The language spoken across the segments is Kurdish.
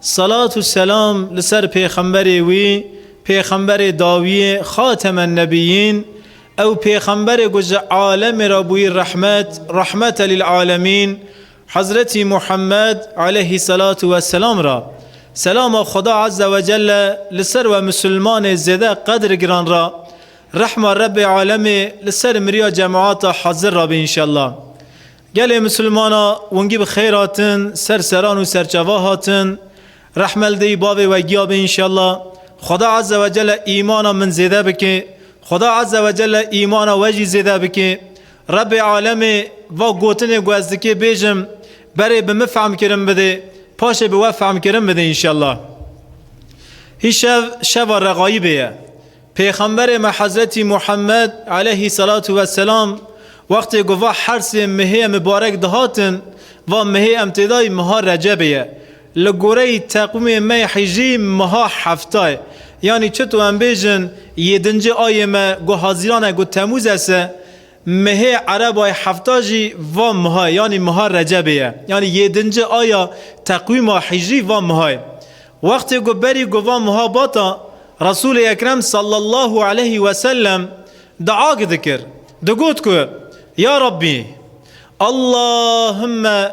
Selat û selam li ser pêxemberê wî, pêxemberê dawiyê, xatemen nebiyîn, ew pêxemberê ku ji alemê re bûyî rehmet, rahmete lîlalemîn, Hezretî Muhemmed, aleyhî selatu we selam re. Selama Xweda Ezze we Celle li ser we misilmanê zêde qedir giran re, rehma Rebbê alemê li ser miriya cemaata hezir re be înşellah. Gelê misilmana wingî bi xêr hatin ser seran û serçeva hatin. Rehmeldeyî bavê we giya be înşella. Xweda Eze ve Celle îmana min zêde bike. Xweda Eze ve Celle îmana we jî zêde bike. Rebê Alemê va gotinê ku ez dikê bêjim berê bi min fehmkirin bidê, paşê bi we fehmkirin bidê înşella. Hîşev şeva reqayîbê ye. Pêxemberê me Hezretî Muhemmed eleyhî selatu ve selam wextê ku va hersê mehê mibarek dihatin, va mehê em tê de yî meha Recebê ye. Li goreyî teqwîmê me yê hijrî meha hefta ye. Yanî çito em bêjin yêdincê ayê me ku Hazîran e ku Temûz e se, Mehê Erebayê hefta jî va miha yanî miha Recebê ye. Yanî yêdinci aya teqwîma hîcrî va miha ye. Wextê ku berî ku va miha bata, Resûlê Ekrem sallallahu eleyhî wesellem diag dikir, digot ku, Ya Rabbî! Allahümme!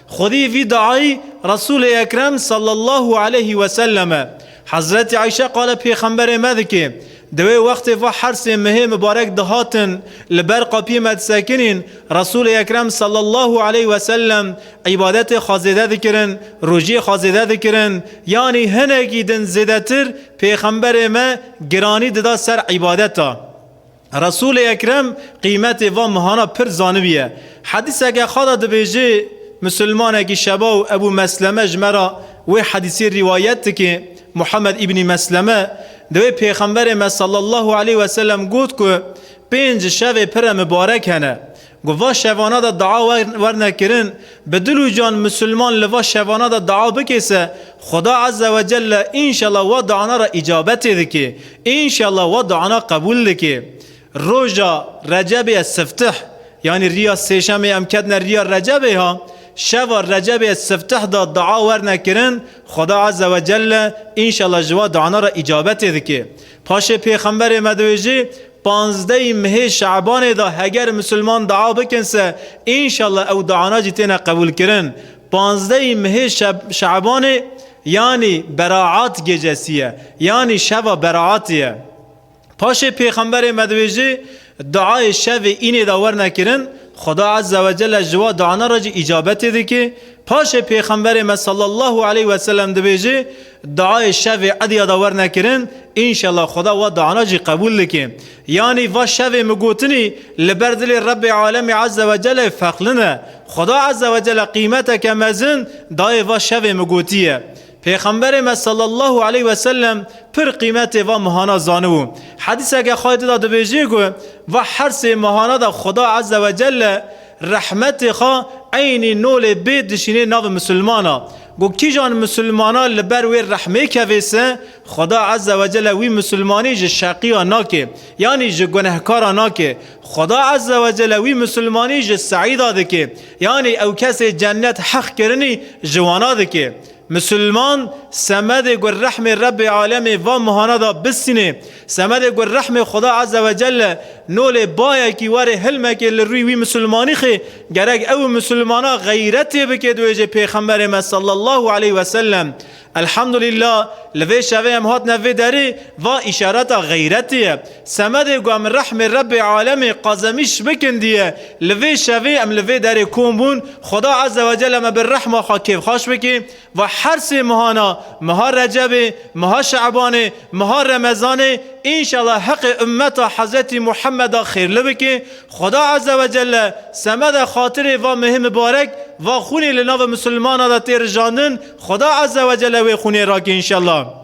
Xwedî vî diayî Resûlê Ekrem sallallahu aleyhî weselem e. Hezretî Ayşe qala Pêxemberê me dike, Di wê wextê va hersê mihê mibarek dihatin li ber qapiyê me disekinîn, Resûlê Ekrem sallallahu aleyhî weselem îbadetê xwe zêde dikirin, rojiyê xwe zêde dikirin, yanî hinekî din zêdetir Pêxemberê me giranî dida ser îbadeta. Resûlê Ekrem qîmetê van mehana pir zanibîye. Hedîseke xwe de dibêje, Mislimanekî şeba û Ebû Mesleme ji me re wê hedîsê rîwayet dike, Muhammed îbnî Mesleme, di wê Pêxemberê me sallallahu aleyh weselem got ku, Pênc şevê pire mibarek hene. Ku va şevana de dua werne kirin, bi dil û can Musulman li va şevana de dua bike se, Xuda Eze we Celle înşela wa duana re îcabetê dike, înşela wa duana qebûl dike. Roja Recebê el Siftih, yanî riya sêşemê em ketine riya Recebê ha, şeva Recebê el Siftih de dua werne kirin, Xuda Eze we Celle înşela ji wa duana re îcabetê dike. Paşê Pêxemberê me diwêjî, Panzdehî mehê Şabanê de heger misilman dua bikin se înşallah ew duana jî têne qebûlkirin. Panzdehî mehê Şabanê yanî Beraat Gecesi ye, yanî şeva Beraatê ye. Paşê Pêxemberê me dibêje, Duayê şevê înê de werne kirin, Xuda Ezze ve Celle ji wa duana re jî îcabetê dike. Paşê Pêxemberê me sallallahu aleyh weselem dibêje, Duayê şevê ediya de werne kirin, înşela Xuda wa duana jî qebûl dike. Yanî va şevê min gotinî li ber dilê Rebê Alemî Eze Wecelê fexlin e. Xuda Eze Wecele qîmeteke mezin dayê va şevê min gotiye. Pêxemberê me Sellallahu Eleyh Weselem pir qîmetê va mehana zanibû. Hedîseke xwe yê di de dibêje ku va her sê mehana de Xuda Eze Wecele rehmetê xwe eynî nolê bê dişînê navê misilman a. Ku kîjan misilmanan li ber wê rehmê kevêsin, Xweda Ezze Wecelle wî misilmanî ji şeqiyan nake, yanî ji gunehkaran nake. Xweda Ezze Wecelle wî misilmanî ji seîda dike, yanî ew kesê cennet heq kirinî ji wana dike. Misilman, semedê ku rehmê Rebbê Alemê van mihana da bisînê, semedê ku rehmê Xweda Ezze Wecelle nolê bayekî werê hilmekê li rûyê wî misilmanîxê Gerek ew misilmana xeyretê bike dibêje Pêxemberê me sallallahu aleyh ve sellem, Elhamdulillah li vê şevê em hatine vê derê, va îşareta xeyretê ye. Semedê ku em rehmê Rebbê alemê qazemîş bikin diye li vê şevê em li vê derê kom bûn, Xweda Ezzewecelle me bi rehma xwe kêfxaş bike. Ve her sê mehana, meha Recebê, meha Şe'banê, meha Remezanê înşela heqê ummeta Hezretî Muhammeda xêrli bike, Xweda Ezzewecelle semede xatirê va mehê mibarek, va xûnê li navê misilmana de tê rijandin, Xweda Ezzewecelle wê xûnê rake înşela.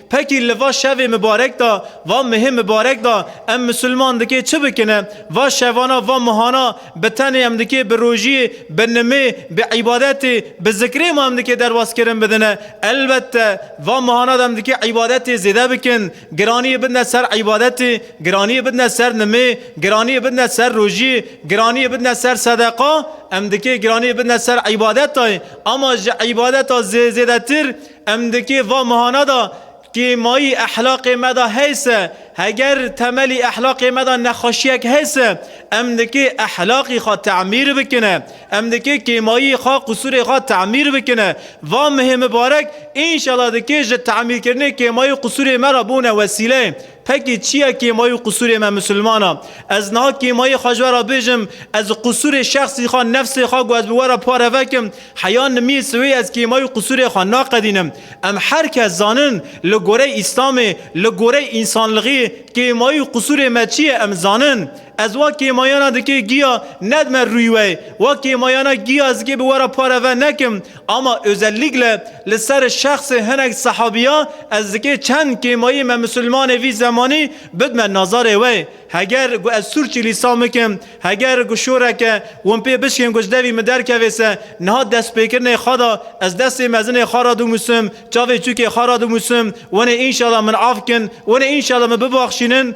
Pekî li va şevê mibarek de, va mihê mibarek de em misilman dikê çi bikine? Va şevana va mihana bi tenê em dikê bi rojiyê, bi nimê, bi îbadetê, bi zikrê ma em dikê derbazkirin bidine. Elbette va mihana de em dikê îbadetê zêde bikin. Giraniyê bidine ser îbadetê, giraniyê bidine ser nimê, giraniyê bidine ser rojiyê, giraniyê bidine ser sedeqa. Em dikê giraniyê bidine ser îbadetayê ama ji îbadeta zêdetir Em dikê va mehana de kêmayî ehlaqê me de heys e. Heger temelî ehlaqê me de nexweşiyek heys e, em dikê ehlaqî xwe temîr bikine. Em dikê kêmayî xwe, qusûrê xwe temîr bikine. Va mehê mibarek înşela dikê ji temîrkirinê kêmayî qusûrê me re bûne wesîleyê. Pekê çi ye kêmayî û qisûrê me misilmanan? Ez niha kêmayî xwe ji we re bêjim, ez qisûrê şexsî xwe, nefsê xwe ku ez bi we re pare vekim, heya nimiyê siwê ez kêmayî û qisûrê xwe naqedînim. Em her kes zanin li goreyê Îslamê, li goreyê însanlixiyê kêmayî û qisûrê me çi ye em zanin. Ez wa kêmayana dikê giya nedme rûy we. Wa kêmayana giya ez dikê bi we re pare ve nekim. Ama özellikle li ser şexsê hinek sehabiya ez dikê çend kêmayî me misilmanê vî zemanî bidme nazarê we. Heger gu ez sûrçî lîsan bikim, heger gu şoreke win pê bişkên gu ji devî min derkevê se niha destpêkirinê xwe da ez destê mezinê xwe ra dimûsim, çavê çûkê xwe ra dimûsim, winê înşala min af kin, winê înşala min bibaxşînin.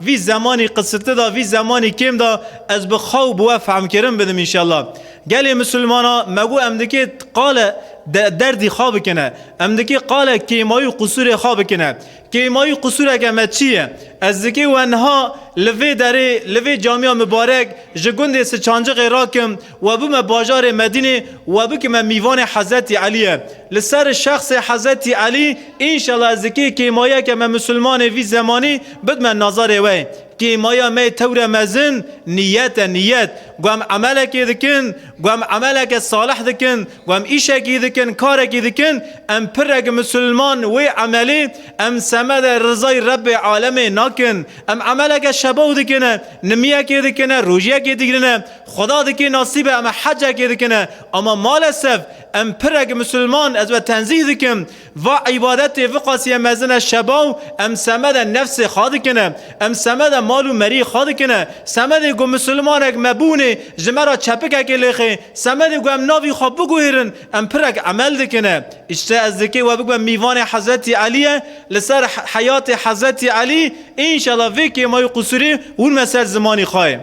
Vî zemanî qisiti da vî zemanî kêm da ez bi xwe û bi we fehmkirin bidim înşallah. Gelê misilmana me got em dikê qale de derdî xwe bikine. Em dikê qale kêmayî û qisûrê xwe bikine. Kêmayî û qisûreke me çi ye? Ez dikê we niha li vê derê, li vê camîya mibarek ji gundê Siçanciqê rakim, We bime bajarê Medînê we bikime mîvanê Hezretî Elîye. Li ser şexsê Hezretî Elî înşela ez dikê kêmayeke me misilmanê vî zemanî bidime nazarê we. Kêmaya me yê tewre mezin nîyet e, nîyet. Ku em emelekê dikin, ku em emeleke salih dikin, ku em îşekî dikin, karekî dikin, em pirek misilman wê emelê em semede rizayê Rebbê Alemê nakin. Em emeleke şebaw dikine, nimiyekê dikine, rojiyekê digirine. Xuda dikê nasîbe em hecekê dikine ama malesef em pirek misilman ez we tenzîh dikim va îbadetê viqasîye mezine şebaw em semede nefsê xwe dikine em semede mal û merî xwe dikine semedê ku misilmanek me bûnê ji me ra çepikekê lêxê semedê ku em navî xwe biguhêrin em pirek emel dikine îşte ez dikê we bibe mîvanê hezretî Elîye li ser heyatê hezretî Elî înşela vê kêma û qusûrê hûn me ser zimanî xwe.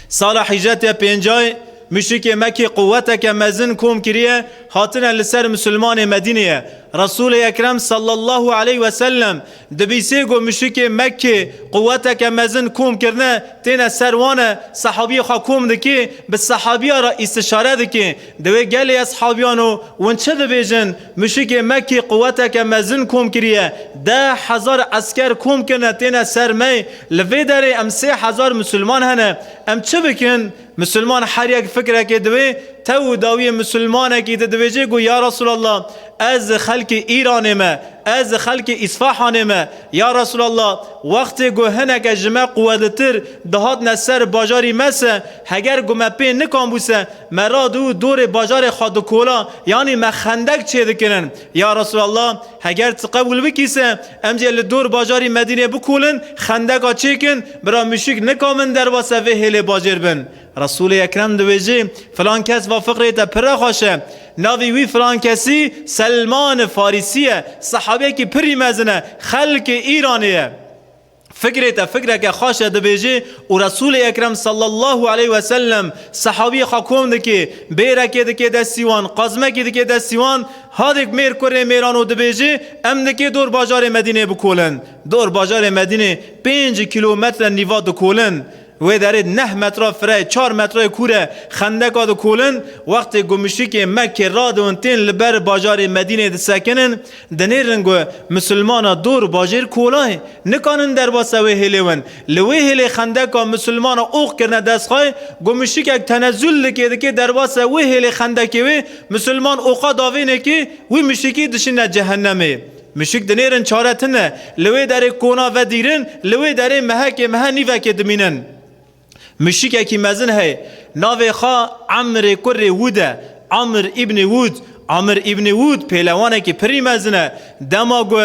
Sala hîjret ya pêncayê muşrikê Mekî quweteke mezin kom kiriye, hatine li ser misilmanê Medîneyê. Resûlê Ekrem sallallahu aleyh ve sellem di bîsê ku muşrikê Mekkê quweteke mezin kom kirine têne ser wan e, sehabiyê xwe kom dike, bi sehabiya re îstişare dike, di wê gelê eshabiyan û wan çi dibêjin? Mişikê me kî quweteke mezin kom kiriye, deh hezar esker kom kirine têne ser me, li vê derê em sê hezar misilman hene. Em çi bikin? Misilman her yek fikrekê diwê, tew û dawiyê misilmanekî di dibêjê ku ya Resûlallah ez xelkê Îranê me, ez xelkê Îsfahanê me, ya Resûlallah wextê ku hineke ji me quwetlitir dihatine ser bajarî me se, heger ku me pê nikanbû se, Me rad û dorê bajarê xwe dikola, yanî me xendek çêdikirin. Ya Resûlallah! Heger tu qebûl bikî se, em jê li dor bajarî Medînê bikolin, xendeka çêkin, bira mûşik nika min derbase vê hêlê bajêr bin. Resûlê Ekrem diwêjê, Filan kes va fiqirê te pirre xweş e. Navê wî filan kesî Selman-i Farîsî ye. Sehabeyekî pirrî mezin e. Xelkê Îranê ye. Fikrê te fikreke xweş e dibêjê û Resûlê Ekrem sallallahu aleyh we sellem sehabiyê xwe kom dikê, bêrekê dikê destî wan, qazmekî dikê destî wan, hadêk mêr kurê mêran û dibêjê em dikê dor bajarê Medîneyê bikolin. Dor bajarê Medînê pênc kîlometre nîva dikolin. Wê derê neh metra fireyê, çar metrayê kûr e, xendeka dikolin, wextê ku muşrikên Mekkê radiwin tên li ber bajarê Medîneyê disekinin, dinêrin ku Musulmana dor bajêr kolayê, nikanin derbasa wê hêlê win. Li wê hêlê xendeka Musulmana ox kirine destxay, ku muşrikek tenezul dikê dikê derbasa wê hêlê xendekê wê Musulman oxa davênekê, wî muşrikî dişine cehennemê. Mişik dinêrin çare tune, li wê derê kona vedîrin, li wê derê mehekê mehe nîvekê dimînin. Mişikekî mezin heye, navê xwe Emrê kurê Wûd e, Amr Îbnê Wûd. Amr Îbnê Wûd pêlewanekî pirî mezin e. Dema ku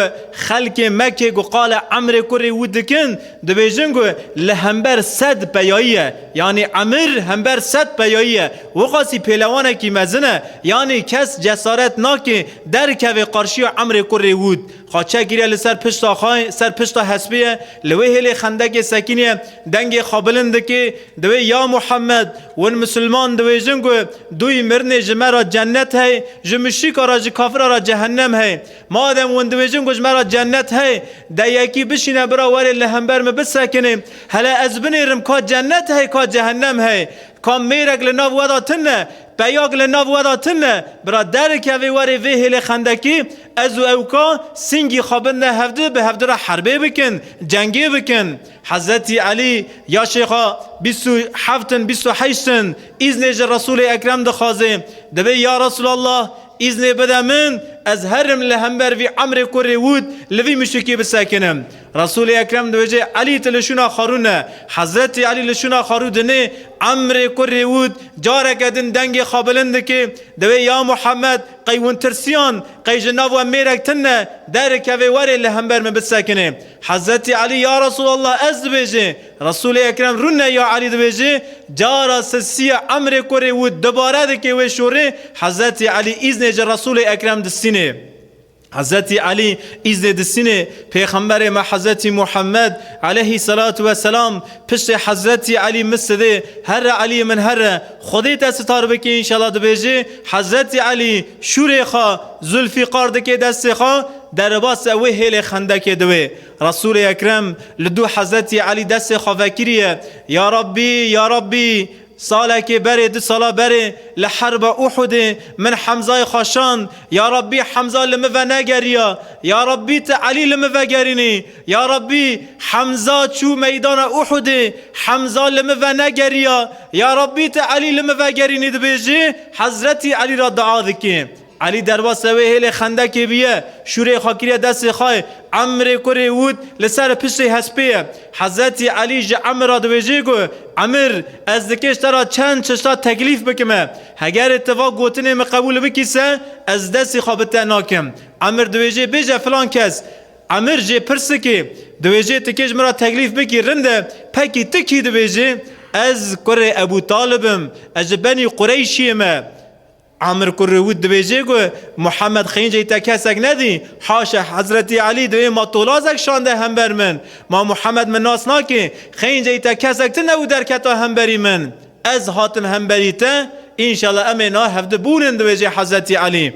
xelkê Mekkê ku qala Emrê kurê Wûd dikin, dibêjin ku li hember sed peyayî ye, yanî Emr hember sed peyayî ye. Wexasî pêlewanekî mezin e, yanî kes cesaret nake derkeve qarşiya Emrê ku Rêwûd xwe çekgîre li ser pişta xwe, ser pişta hespê ye, li wê hêlê xendekê sekîniye, dengê xwe bilind dike, diwê Ya Muhemed, win misilman diwêjin ku dûyî mirinê ji me re cennet heye, ji muşrîka re, ji kafira re cehennem heye. Madem win diwêjin ku ji me re cennet heye, de yekî bişîne bira were li hember min bisekine, hele ez binêrim ka cennet heye ka cehennem heye, Ka mêrek li nav we de tune, peyak li nav we de tune, bira derikevê werê vê hêlê xendekî, ez û ew ka singî xwe bidine hevdu, bi hevdu re herbê bikin, cengê bikin. Hezretî Elî ya Şêxa bîst û heft in, bîst û heşt in, îznê ji Resûlê Ekrem dixwaze, dibê ya Resûlallah îznê bide min, ez herim li hember vî emrê kurê wût li vî muşikî bisekinim. Resûlê Ekrem dibêje, Elî tu li şûna xarû ne. Hezretî Elî li şûna xarû dinê, Emrê kurrê wût, careke din dengê xwe bilind dike, diwê ya Muhammed, qey hûn tirsiyan, qey ji nav we mêrek tun ne, derikevê were li hember min bisekinê. Hezretî Elî, Ya Resûlallah ez dibêje. Resûlê Ekrem rûne ya Elî dibêje, cara sisiya Emrê kurrê wût dubare dike wê şorê, Hezretî Elî îznê ji Resûlê Ekrem distînê. Hezretî Elî îznê di Sînê pêxemberê me Hezretî Muhemmed eleyhî selatu ve selam piştê Hezretî Elî min sidê herre Elîyê min herre Xwedê te sitar bike înşela dibêjê Hezretî Elî şûrê xwe Zûlfîqar dike destê xwe derebase wê hêlê Xendekê di wê Resûlê Ekrem li dû Hezretî Elî destê xwe vekiriye Ya Rabbî Ya Rabbî Salekê berê du sala berê li herba Uhudê min Hemzayê xwe şand, Ya Rabbî Hemza li min ve negeriya, Ya Rabbî tu Elî li min vegerînî, Ya Rabbî Hemza çû meydana Uhudê, Hemza li min ve negeriya, Ya Rabbî tu Elî li min vegerînî dibêjî, Hezretî Elî re dua dikê. Elî derbasî wê hêlê xendekê bûye, şûrê xwe kiriye destê xwe, Emrê kurê wût li ser piştê hespê ye. Hezretî Elî ji Emir re dibêje ku, Emir, ez dikêj te re çend çeşta teklîf bikime. Hegerê ti va gotinê min qebûl bikî se, ez destê xwe bi te nakim. Emir dibêje bêje filan kes. Emir jê pirsikê, dibêje ti kêj min re teklîf bikî rind e, pekî ti kî? Dibêje, Ez kurê Ebû Talib im, ez ji benî Qureyşiyê me. Amir Kurrewût dibêje ku Muhemed Xênceyî te kesek nedî, haşa Hezretî Elî divê ma tolazek şande hember min. Ma Muhemed min nas nake, Xênceyî te kesek tune û derketa hemberî min. Ez hatim hemberî te, înşela em ê na hevdi bûnin dibêje Hezretî Elî.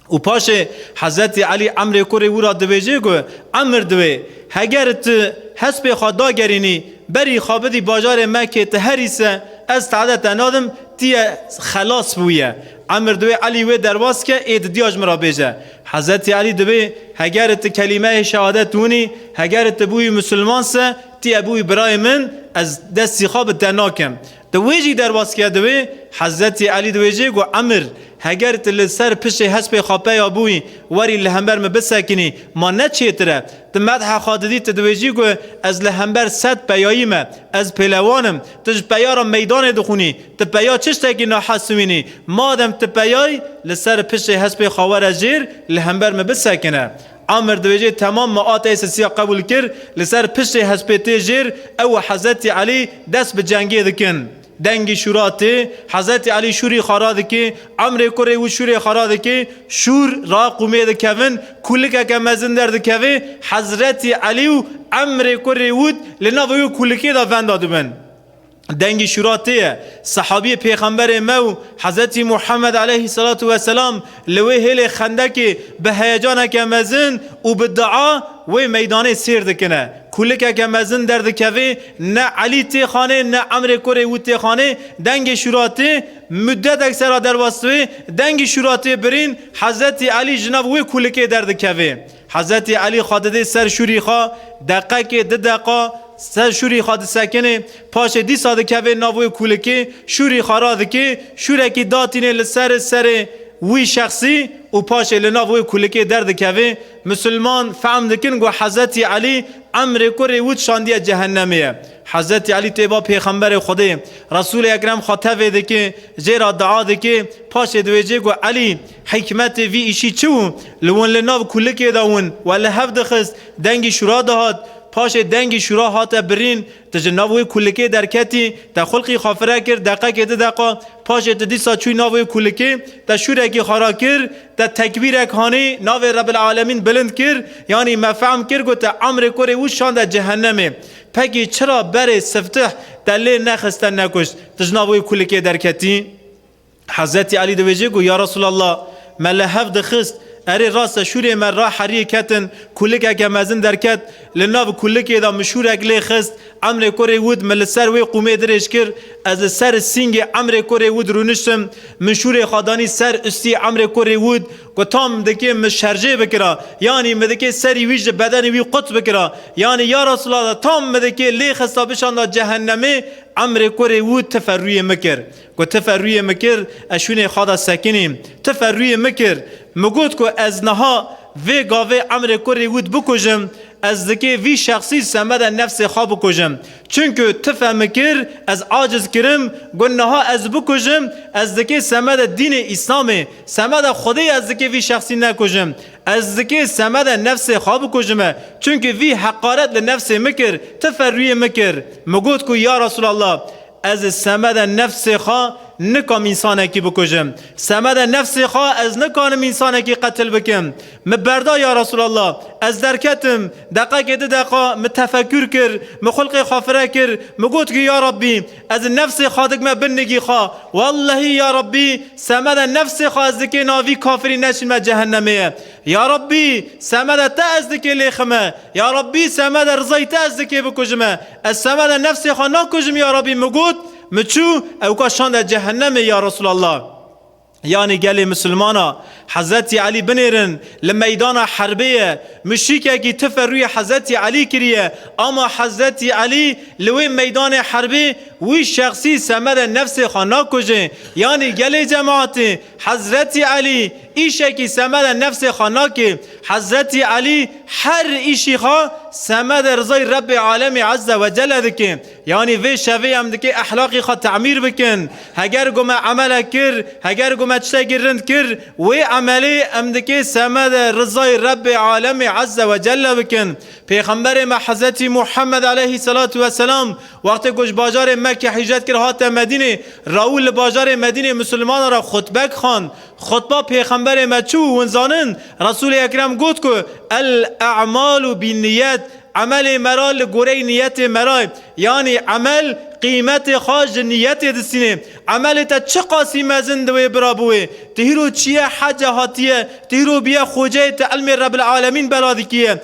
Û paşê Hezretî Elî Emrê Kurê wî ra dibêjê ku Emr diwê, heger tu hespê xwe dagerînî berî xwe bidî bajarê me kê tu herî se ez te'de te nadim tî ye xelas bi wî ye. Emr diwê Elî wê derbas ke ê didiya ji min ra bêje. Hezretî Elî dibê, heger tu kelîmeyê şehadet winî, heger tu bûyî musulman se tî ye bûyî birayê min ez destî xwe bi te nakim. Di wê jî derbasîya di wê Hezretî Elî di wê jê got, Emir, heger tu li ser pişê hespê xwe peya bûyî, werî li hember min bisekinî, ma ne çêtir e. Di medha xwe didî tu di wê jî got, Ez li hember sed peyayî me, ez pêlewan im. Tu ji peya re meydanê dixwînî, tu peya çi ştekî nahez siwînî. Madem tu peyayî, li ser pişê hespê xwe were jêr, li hember min bisekine. Amer dibêje temam me a tesisiya qebûl kir, li ser piştê hespê tê jêr, ew û Hezretî Elî dest bi cengê dikin. Dengî şûra tê, Hezretî Elî şûrî xara dike, Amrê kurê wî şûrê xara dike, şûr ra qûmê dikevin, kûlikeke mezin derdikeve, Hezretî Elî û Amrê kurê wî li nava wî kûlikê de venda dibin. Dengî şûra tê ye. Sehabîyê Pêxemberê me û Hezretî Muhemmed aleyhî selatu weselam li wê hêlê Xendekê bi heyecaneke mezin û bi dua wê meydanê sêr dikine. Kûlikeke mezin derdikeve, ne Elî tê xanê ne Emrê kurê wî tê xanê. Dengê şûra tê. Muddetek sera derwestûyê, dengî şûra tê birîn, Hezretî Elî ji nav wê kûlikê derdikeve. Hezretî Elî xwe didê ser şûrî xwe, deqekê, di deqa, ser şûrî xwe disekinê, paşê dîsa dikevê nav wê kûlikê, şûrî xwe radikê, şûrekî datînê li ser serê wî şexsî û paşê li nav wê kûlikê derdikevê. Misilman fehm dikin ku Hezretî Elî emrê ku rê wût şandiye cehennemê ye. Hezretî Elî tê ba Pêxemberê Xwedê, Resûlê Ekrem xwe tevê dikê, jê re dua dikê, paşê diwêjê ku Elî! Hikmetê vî îşî çi wû? Li win li nav kulikê de win we li hev dixist, dengî şûra dihat. Paşê dengî şûra hate birîn, tu ji nav wê kulikê derketî, te xulqî xwe fire kir, deqekê di deqa. Paşê tu dîsa çûyî nav wê kulikê, te şûrekî xera kir, te tekbîrek hanî, navê Rebbil Alemîn bilind kir, yanî me fehm kir ku te emrê kurê wû şande cehennemê. Pekî çira berê siftih te lê nexiste nekuşt, tu ji nav wê kulikê derketî? Hezretî Elî dibêje ku ya Resûlallah! Me li hev dixist. Erê rast e şûrê me ra herîyê ketin, kûlikeke mezin derket, li nav kûlikê de min şûrek lê xist, emrê kurê wût min li ser wê qûmê dirêj kir, ez li ser sîngê emrê kurê wût rûniştim, min şûrê xwe danî ser ustî emrê kurê wût, gutam dikê min şerjê bikira, yanî min dikê serî wî ji bedenê wî quts bikira, yanî ya Resûlallah tam min dikê lê xista bişanda cehennemê, emrê kurê wût tife rûyê min kir. Ku ti ferrûyê min kir, ez şûnê xwe de sekinîm. Ti ferrûyê min kir. Min got ku ez niha vê gavê Emrê kurê wî dibikujim, ez dikê vî şexsî semedê nefsê xwe bikujim. Çunku ti fe min kir, ez aciz kirim, got niha ez dibikujim, ez dikê semedê dînê Îslamê, semedê Xwedê ez dikê vî şexsî nekujim. Ez dikê semedê nefsê xwe bikujime. Çunku vî heqaret li nefsê min kir. Ti ferrûyê min kir. Min got ku ya Resûlallah! Ez li semeda nefsê xwe nikam însanekî bikujim. Semeda nefsê xwe ez nikarim însanekî qetil bikim. Min berda ya Resûlallah. Ez derketim. Deqekê du deqa min tefekûr kir, min xulqê xwe fire kir, min got ki ya Rabbî ez li nefsê xwe dikme bin nigî xwe. Wellehî ya Rabbî semeda nefsê xwe ez dikê navî kafirî neşînme cehennemê ye. Ya Rabbî semeda te ez dikê lêxime. Ya Rabbî semeda rizayê te ez dikê bikujime. Ez semeda nefsê xwe nakujim ya Rabbî min got, min çû ewka şande cehennemê ya Resûlallah. Yanî gelê misilmana Hezretî Elî binêrin li meydana herbê ye. Muşîkekî tife rûyê Hezretî Elî kiriye ama Hezretî Elî li wê meydanê herbê wî şexsî semeda nefsê xwe nakujê yanî gelê cemaetê Hezretî Elî îşekî semedê nefsê xwe nake. Hezretî Elî her îşî xwe semedê rizayê Rebbê Alemî Ezze ve Celle dike. Yanî vê şevê em dikê ehlaqê xwe temîr bikin. Heger ku me emelek kir, heger ku me tiştekî rind kir, wê emelê em dikê semedê rizayê Rebbê Alemî Ezze ve Celle bikin. Pêxemberê me Hezretî Muhemmed Eleyhî Selatû Weselam Wextê ku ji bajarê Mekke hîcret kir hate Medînê, Raûl li bajarê Medînê misilmanan re xutbek xwend. Xutba Pêxemberê me çi û hûn zanin? Resûlê Ekrem got ku, El a'malu bin niyet, Emelê me ra li goreyî niyetê me ra ye. Yanî emel qîmetê xwe ji niyetê distînê. Emelê te çi qasî mezin di wê bira bi wê. Ti hîro çiye hece hatiye, ti hîro biye xoceyê ti ilmê Rebil Alemîn bela dikî ye.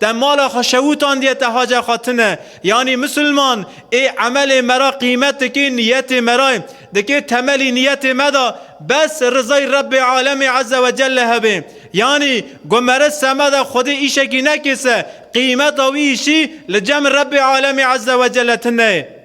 Te mala xwe şewûtandiye te hace xatine. Yanî misilman ê emelê me ra qîmet dikê niyetê me ra ye. Dikê temelî niyetê me de bes rizay Rebbê Alemê Eze ve Celle hebê. Yanî ku me re semeda Xwedê îşekî nekê se, qîmeta wî îşî li cem Rebbê Alemê Eze ve Celle tune ye.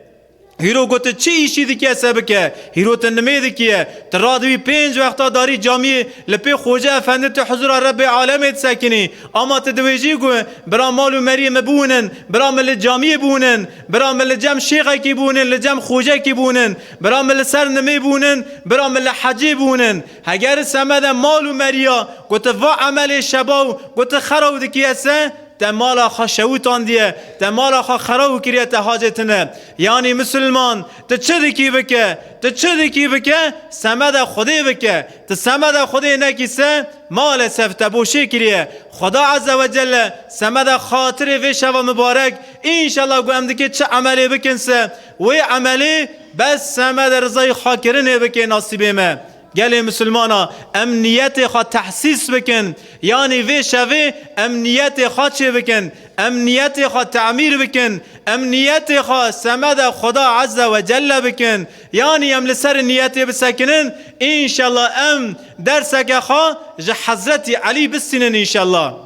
Hîro ku tu çi îşî dikî ez te bike. Hîro tu nimê dikî ye. Tu radiwî pênc wexta darî camiyê li pê Xoca Efendi tu huzura Rebbê alemê disekinî. Ama tu diwêjî ku bira mal û meriyê min biwinin, bira min li camiyê biwinin, bira min li cem şêxekî biwinin, li cem xocekî biwinin, bira min li ser nimê biwinin, bira min li hecê biwinin. Heger semede mal û meriya ku tu va emelê şeba û ku tu xera û dikî ez te, Te mala xwe şewitandiye, te mala xwe xerab kiriye te hacê tune. Yanî misilman tu çi dikî bike, tu çi dikî bike semeda xwedê bike. Tu semeda xwedê nekî se malesef te boşê kiriye. Xweda eze ve celle semeda xatirê vê şeva mibarek înşela ku em dikê çi emelê bikin se wê emelê bes semeda rizayê xwe kirinê bikê nasîbê me. Gelê Misilmana em niyetê xwe tehsîs bikin, yanî vê şevê em niyetê xwe çê bikin, em niyetê xwe temîr bikin, em niyetê xwe semeda Xweda Eze we Celle bikin, yanî em li ser niyetê bisekinin, înşella em derseke xwe ji Hezretî Elî bistînin înşella.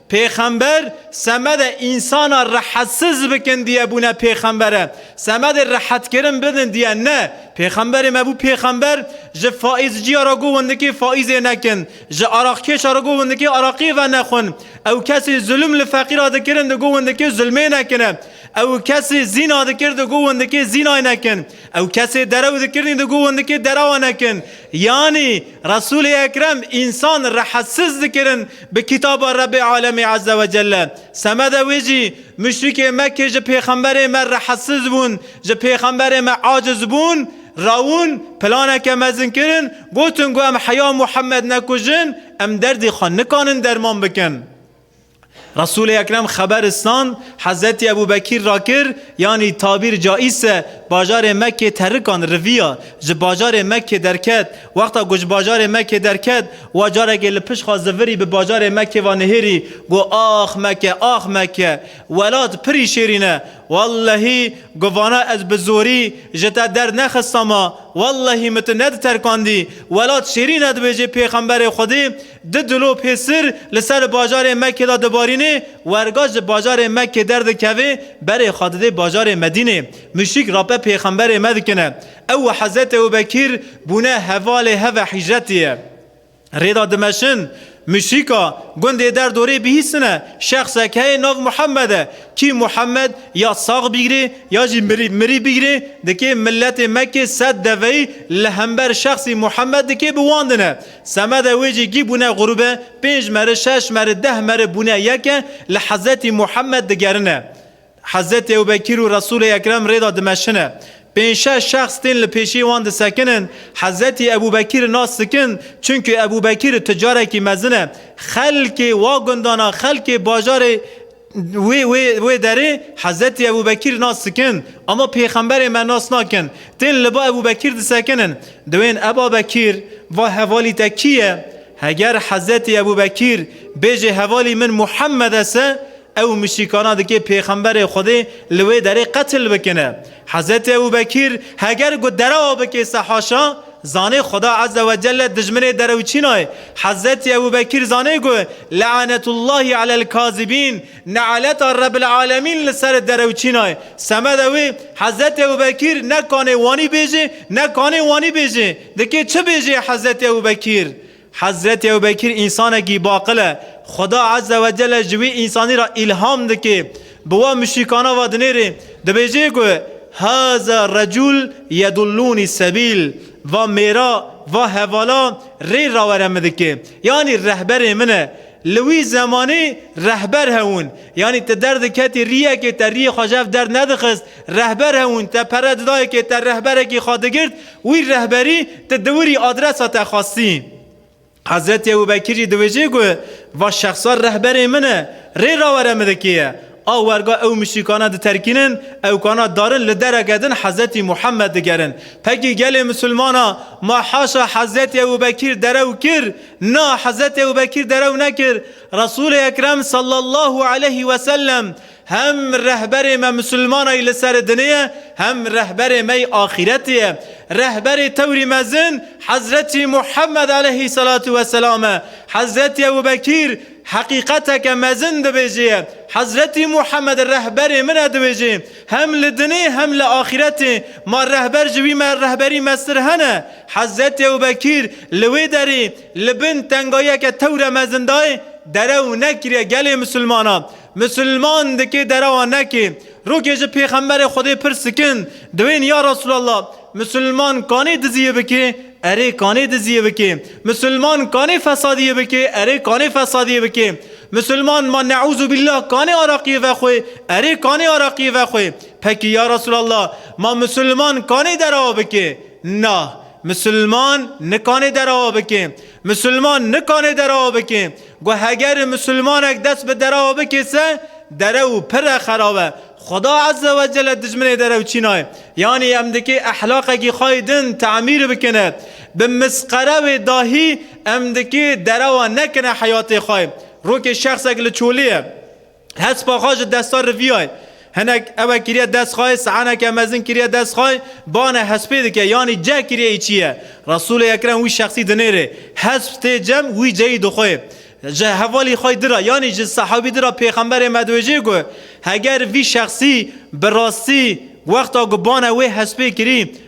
Pêxember semedê însana rehetiz bikin diye bûne pêxember e. Semedê rehetkirin bidin diye ne. Pêxemberê me bû pêxember, ji faîzciya re got wendikê faîzê nekin, ji araqkêşa re got wendikê araqê venexwin. Ew kesê zulm li feqîra dikirin digot wendikê zulmê nekin e. Ew kesê zîna dikir digot wendikê zînayê nekin. Ew kesê derew dikirnî di guvundikê derewa nekin. Yanî Resûlê Ekrem însan rehesiz dikirin bi kitaba Rebbê Alemê Eze ve Celle. Semede wê jî muşrikê Mekkê ji pêxemberê me rehesiz bûn, ji pêxemberê me aciz bûn, rawin, planeke mezin kirin, gotin ku em heya Muhammed nekujin, em derdê xwe nikanin derman bikin. Resûlê Ekrem xeberistan Hezretî Ebû Bekîr ra kir, yanî tabîr caîs e, bajarê Mekkê terrikan riviya, ji bajarê Mekkê derket. Wexta ku ji bajarê Mekkê derket, wa carekê li pişt xwe zivirî bi bajarê Mekkê ve nihêrî, got, Ax Mekke, ax Mekke! Welat pirî şêrîn e! Wellehî ku vana ez bi zorî ji te dernexistama, wellehî min tu nediterkandî! Welat şêrîn e dibêjê Pêxemberê Xwedê, Di dilo pê sir li ser bajarê Mekkê de dibarînê, werga ji bajarê Mekkê derdikevê berê xwe didê bajarê Medînê. Muşîk rape pêxemberê me dikine. Ew û Hezretê Ebûbekîr bûne hevalê heve hîcretiyê. Rêda dimeşin, muşîka gundê der dorê bihîsine, şexsek heye nav Muhammed e. Kî Muhammed ya sax bigirê ya jî mirî mirî bigirê, dikê miletê Mekkê sed deveyî li hember şexsî Muhammed dikê biwandine. Semedê wê jî gî bûne grûbe, pênc meri, şeş meri, deh meri bûne yek e, li Hezretî Muhemed digerine. Hezretî Ewbekîr û Resûlê Ekrem rê de dimeşine. Pênc şeş şexs tên li pêşiyê wan disekinin. Hezretî Ebûbekîri nas dikin, çimkî Ebûbekîr ticarekî mezin e. Xelkê wa gundana, xelkê bajarê, Wê wê wê derê Hezretî Ebû Bekîr nas dikin, ama pêxemberê me nas nakin. Tên li ba Ebû Bekîr disekinin. Diwên Eba Bekîr, va hevalî te kî ye? Heger Hezretî Ebû Bekîr bêjê hevalî min Muhemmed e se, ew mişîkana dikê pêxemberê Xwedê li wê derê qetil bikine. Hezretê Ebû Bekîr heger ku derewa bike se haşa, zanê Xweda Eze we Celle dijminê derewçîna ye. Hezretê Ebû Bekîr zanê ku Le'anetullahî alel kazibîn, Ne'aleta Rebil Alemîn li ser derewçîna ye. Semeda wê, Hezretê Ebû Bekîr ne kanê wanî bêje, ne kanê wanî bêje. Dikê çi bêje Hezretê Ebû Bekîr? Hezretî Ewbekîr însanekî baqil e. Xweda Ezze we Celle ji wî însanî re îlham dike. Bi wan muşrîkana ve dinêre. Dibêje ku Haza recûl yedullûnî sebîl, Va mêra, va hevala rê rawere min dike. Yanî rehberê min e. Li wî zemanê rehber hebûn. Yanî ti derdiketî rîyekê te rîyê xwe ji hev derdnedixist. Rehber hebûn. Te pere di dayikê te rehberekî xwe digirt Wî rehberî ti diwirî adresa te xwestî. Hezretî Ebû Bekîr jî diwêjê ku va şexsa rehberê min e, rê rawere min dikê ye. A werga ew muşrîkana diterkînin, ewkana darin li dereke din Hezretî Muhemmed digerin. Pekî gelê misilmana ma haşa Hezretî Ebû Bekîr derew kir? Na, Hezretî Ebû Bekîr derew nekir. Resûlê Ekrem sallallahu aleyhî wesellem Hem rehberê me misilmanayî li serê dinê ye, hem rehberê me yî axîretê ye. Rehberê tewrî mezin Hezretî Muhemmed eleyhî selatû we selam e. Hezretî Ebû Bekîr heqîqeteke mezin dibêje ye. Hezretî Muhemmed rehberê min e dibêje, hem li dinê hem li axîretê ma rehber ji wî me rehberî mestir hene. Hezretî Ebû Bekîr li wê derê li bin tengayiyeke tewr e mezin dayê derew nekiriye gelê misilmanan. Musulman dikê derewa nekê. Rokê ji pêxemberê Xwedê pir sikin, diwên ya Resûlallah, Musulman kanê diziyê bikê, erê kanê diziyê bikê, Musulman kanê fesadiyê bikê, erê kanê fesadiyê bikê, Musulman ma neûzûbîllah kanê araqiyê vexwê, erê kanê araqiyê vexwê. Pekî ya Resûlallah, ma Musulman kanê derewa bikê? Na. Musulman nikanê derewa bikê. Musulman nikanê derewa bikê. Ku heger misilmanek dest bi derewa bikêse, derew pire xerab e. Xweda Ezze we Celle dijminê derew çî nayê. Yanî em dikê ehlaqekî xwe yê din temîr bikine. Bi misqere wê dahî em dikê derewa nekine heyatê xwe. Rokê şexsek li çolê ye. Hespa xwe ji desta riviyayê hinek ewe kiriye dest xweyê, siheneke mezin kiriye dest xweyê, bane hespê dike yanî ceh kiriye îçî ye. Resûlê Ekrem wî şexsî dinêrê. Hesp tê cem wî ceyî dixwê. Ji hevalî xweyî dira yanî ji sehawî dira pêxemberê me diwêjê ku heger vî şexsî bi rastî wexta ku bane wê hespê kirî,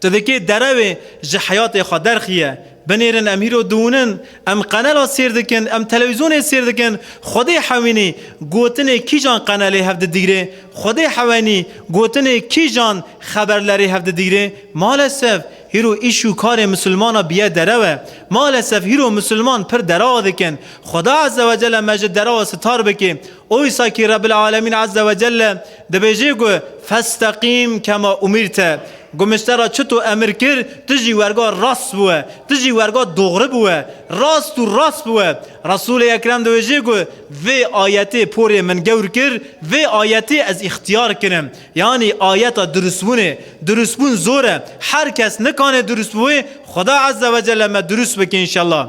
Tu dikê derewê ji heyatê xwe derxiye. Binêrin em hîro diûnin, em qenela sêr dikin, em telewîzyonê sêr dikin, Xwedê hewînî gotinê kîjan qenelê hev didigirê, Xwedê hewenî gotinê kîjan xeberlerê hev didigirê. Malesef hîro îş û karê misilmana biye derewe. Malesef hîro misilman pir derewa dikin. Xweda Ezzewecelle me ji derewa sitar bikê. Oysakî Rebbil Alemîn Ezzewecelle Dibêjî ku Festeqîm kema umîrt e. Gumişte ra çi to emir kir, ti jî werga rast bûe, ti jî werga doxri bûe, rast û rast bûe. Resûlê Ekrem dibêjî ku vê ayetê porê min gewr kir, vê ayetê ez îxtiyar kirim. Yanî ayeta durustbûnê. Durustbûn zor e. Her kes nikanê durustbûê, Xweda Ezzewecelle me durust bike înşellah.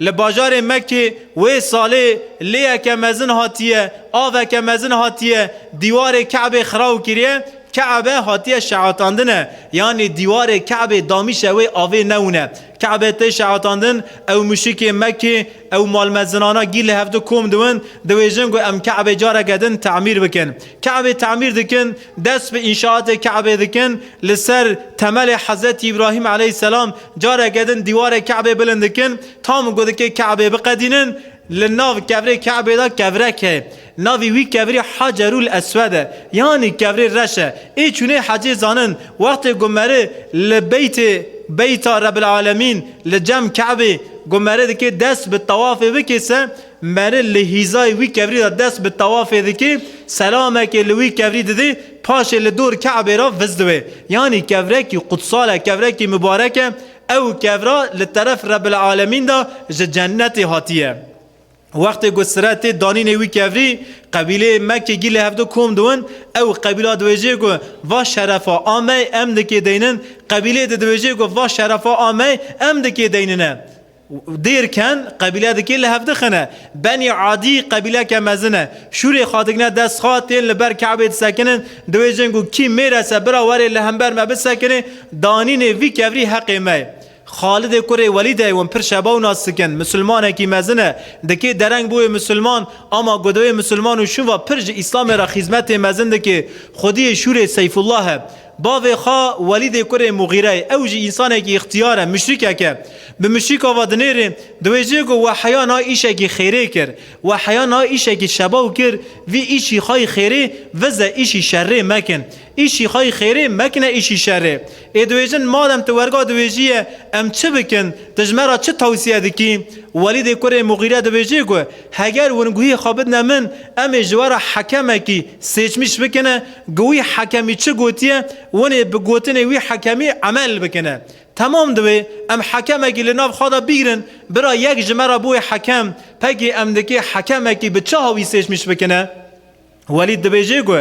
Li bajarê Mekkê wê salê lêyeke mezin hatiye, aveke mezin hatiye dîwarê Kabê xiraw kiriye, Kabe hatiye şeatandine, yanî dîwarê Kabê damîşe wê avê newine. Kabe tê şeatandin, ew muşikê Mekkê, ew malmezinana gîl li hevdu kom diwin, diwêjin ku em Kabê careke din temîr bikin. Kabê temîr dikin. Dest bi înşaatê Ke'bê dikin, li ser temelê Hezretî Îbrahîm eleyhîsselam careke din dîwarê Ke'bê bilind dikin, tam ku dikê Ke'bê biqedînin, li nav kevrê Ke'bê de kevrek heye. Navî wî kevrî Hacerul Eswed e, yanî kevrê reş e. Ê çûnê hecê zanin, wextê ku meri li beytê, Beyta Rebbil Alemîn, li cem Ke'bê, ku meri dikê dest bi tewafê bikê se, Meri li hîzayê wî kevrî de dest bi tewafê dike, selamekê li wî kevrî dide, paşê li dor Ke'bê re viz dibe. Yanî kevrekî qudsal e, kevrekî mibarek e. Ew kevra li teref Rebbil Alemîn de ji cennetê hatiye. Wextê ku sire tê danînê wî kevrî, qebîleyê Mekkê gî li hevdu kom dibin. Ew qebîla dibêje ku va şerefa a me em dikê deynin, qebîleyê di dibêje ku va şerefa a me em dikê deynine. Dêr ken qebîleya dikê li hev dixine. Benî Adî qebîleke mezin e. Şûrê xwe digine dest xwe, tên li ber Kabeyê disekinin. Diwêjin ku kî mêres e bira were li hember me bisekinê. Danînê vî kevrî heqê me ye. Xalidê kurê Welîd e wan pir şeba û nas dikin. Misilmanekî mezin e. Dikê dereng bûye misilman. Ama ku diwê misilman û şûn va pir ji Îslamê re xîzmetê mezin dikê. Xwediyê şûrê Seyfullah e. Bavê xwe Welîdê kurê Muxîreyê, ew jî însanekî îxtiyar e, muşrîkek e. Bi muşrîka ve dinêrê, di wê cihê ku Weheyya niha îşekî xêrê kir. Weheyya niha îşekî şebaw kir, Vî îşî xwe yî xêrê vize îşî şerrê mekin. Îşî xwe yî xêrê mekine îşî şerrê. Ê diwêjin madem tu werga diwêjî ye, em çi bikin? Tu ji me re çi tewsiye dikî? Welîdê kurê Muxîre diwêjê ku heger winguhê xwe bidine min, em ê ji we re hekemekî sêçmîş bikine, Ku wî hekemî çi gotiye, winê bi gotinê wî hekemî emel bikine. Temam divê em hekemekî li nav xwe de bigrin, bira yek ji me re bûye hekem, pekê em dikê hekemekî bi çaha wî sêşmîş bikine? Welîd dibêje ku,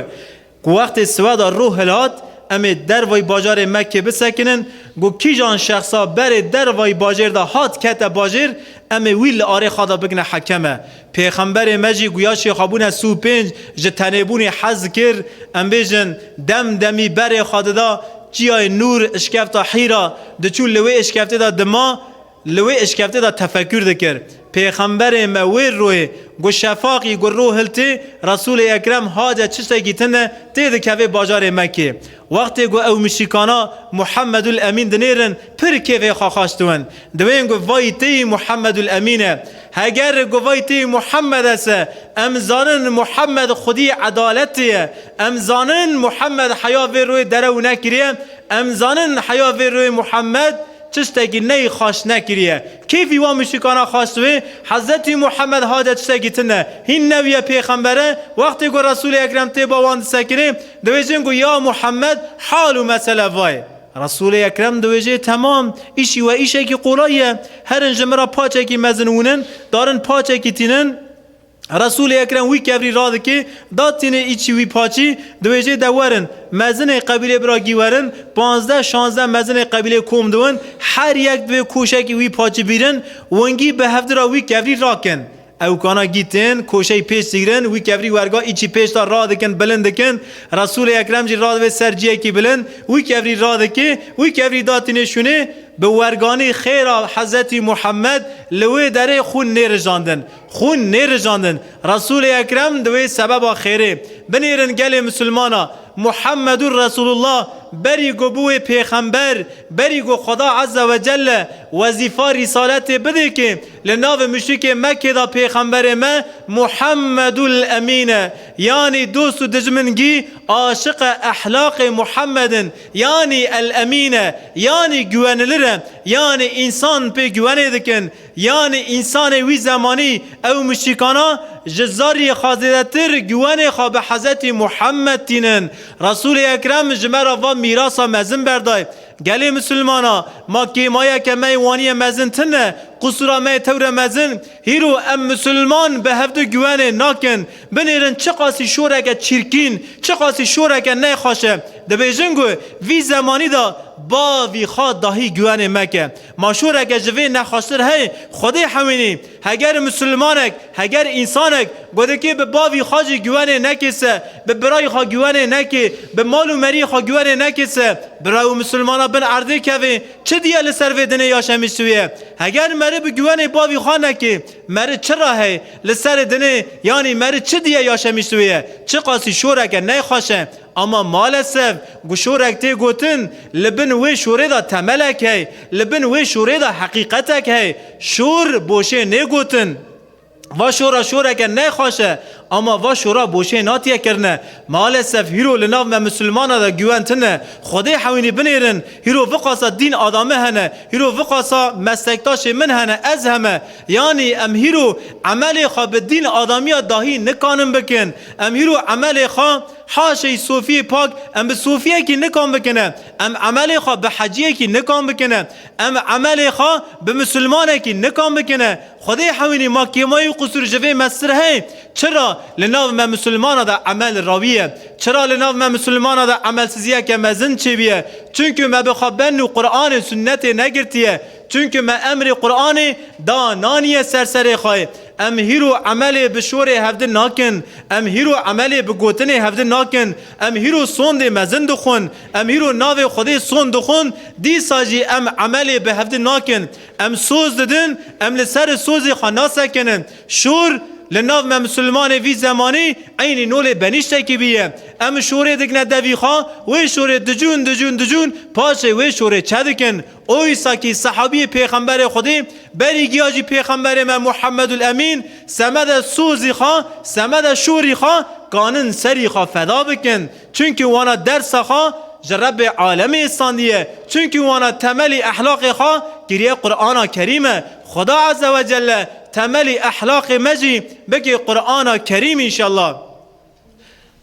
ku wextê siweda rû hilhat, em ê dervayî bajarê Mekkê bisekinin, ku kîjan şexsa berê dervayî bajêr de hat kete bajêr, em ê wî li arê xwe de bikine hekeme. Pêxemberê me jî guya şêxabûne sû pênc ji tenêbûnê hez kir, em bêjin dem demî berê xwe dida çiyayê nûr îşkefta hîra, diçû li wê îşkeftê de dima, li wê îşkeftê de tefekûr dikir. Pêxemberê me wê royê ku şefaqî ku rû hiltê Resûlê Ekrem hate çiştekî tinde tê dikevê bajarê Mekkê. Wextê ku ew mişîkana Muhammedul Emîn dinêrin pir kêfê xwe xweş diwin. Diwên ku vayî têyî Muhammedul Emîn e. Heger ku vayî têyî Muhammed es e, em zanin Muhammed xwedî edaletê ye. Em zanin Muhammed heya vê royê derew nekiriye. Em zanin heya vê royê Muhammed çiştekî neyê xweş nekiriye. Keyfî wan mûsîkana xas wê Hezretî Muhammed hade tiştekî tin e. Hîn new ye pêxember e. Wextê ku Resûlê Ekrem tê ba wan disekirê, diwêjin ku ya Muhammed hal û mesele va ye. Resûlê Ekrem diwêjê temam, îşî we îşekî qolay ye. Herin ji min re paçekî mezin wûnin, darin paçekî tînin. Resûlê Ekrem wî kevrî radikê, da tînê îçî wî paçî, di wêjê de werin, mezinê qebîlê bira gî werin, panzdeh şanzdeh mezinê qebîlê kom diwin, her yek divê koşekî wî paçî bîrin, wingî bi hevdi ra wî kevrî rakin. Ewkana gî tên, koşeyî pêş zîgrin, wî kevrî werga îçî pêş de radikin, bilind dikin, Resûlê Ekrem jî radivê ser ciyekî bilind, wî kevrî radikê, wî kevrî da tînê şûnê, bi werganî xêra Hezretî Muhammed li wê derê xûn nêrijandin. Xûn nêrijandin. Resûlê Ekrem di wê sebeba xêrê, binêrin gelê misilmana, Muhammedûr Resûlullah, berî ku bûye pêxember, berî ku Xweda Eze we Celle wezîfa rîsaletê bidê kê, li navê muşrikê Mekkê de pêxemberê me Muhammedûl Emîn e, yanî dost û dijmin gî aşiqe ehlaqê Muhammed in, yanî El Emîn e, yanî güwenilir e, yanî însan pê güwenê dikin. Yanî însanê wî zemanî ew muşrîkana ji zerrî xwe zêdetir güwenê xwe bi Hezetî Muhammed tînin. Resûlê Ekrem ji me re va mîrasa mezin berday. Gelê Misilmana, ma kêmayeke me yê waniye mezin tine, qusûra me yê tewre mezin, hîro em Misilman bi hevdu güwenê nakin, binêrin çiqasî şoreke çîrkîn, çiqasî şoreke ne xweş e. Dibêjin ku vî zemanî de bavî xwe dahî güwenê me ke. Maşoreke ji vê nexweştir heye, Xwedê hewînî, heger mislimanek, heger însanek, godikê bi bavî xwe jî güwenê nekê se, bi birayî xwe güwenê nekê, bi mal û meriyê xwe güwenê nekê se, bira û mislimana bin erdê kevê, çi diye li ser vê dinê ya şemîştûyê? Heger meri bi güwenê bavî xwe nekê, meri çi re heye li serê dinê, yanî meri çi diye ya şemîştûyê? Çiqasî şoreke neyxweş e! Ama malesef ku şorek tê gotin, li bin wê şorê de temelek hey, li bin wê şorê de heqîqetek hey. Şor boşê nê gotin. Va şora şoreke ne xweş e, ama va şora boşê natiye kirine. Malesef hîro li nav me misilmanan de güwen tine. Xwedê hewînî binêrin, hîro viqasa dîn adame hene, hîro viqasa meslektaşê min hene, ez heme. Yanî em hîro emelê xwe bi dîn adamiya dahî nikanin bikin. Em hîro emelê xwe haşey sofiyê pak em bi sofiyekî nikan bikine. Em emelê xwe bi heciyekî nikan bikine. Em emelê xwe bi misilmanekî nikan bikine. Xwedê hewînî ma kêmayî û qusûr ji vê mesir heye. Çira li nav me misilmanan de emel rawî ye. Çira li nav me misilmanan de emelsiziyeke mezin çêbûye. Çunku me bi xwe ben û Quranê, sunnetê negirtiye. Çunke me emrê Quranê da naniye ser serê xwe. Em hîr û emelê bi şorê hevdin nakin. Em hîr û emelê bi gotinê hevdin nakin. Em hîr û sondê mezin dixwin. Em hîr û navê Xwedê sond dixwin. Dîsa jî em emelê bi hevdin nakin. Em soz didin, em li serê sozê xwe nasekinin. Şor, li nav me misilmanê vî zemanî eynî nolê benîştekî bî ye. Em şorê digine devî xwe, wê şorê dicûn dicûn dicûn paşê wê şorê çedikin. Oysa kî sehabîyê Pêxemberê Xwedê berî giya jî Pêxemberê me Muhammedul Emîn, semede sozî xwe, semede şorî xwe kanin serî xwe feda bikin. Çimkî wana dersa xwe ji Rebbê Alemê istandiye. Çimkî wana temelî ehlaqê xwe kiriye Qur'ana Kerîm e. Xweda Ezzewecelle temelî ehlaqê me jî bike Qur'ana Kerîm inşallah.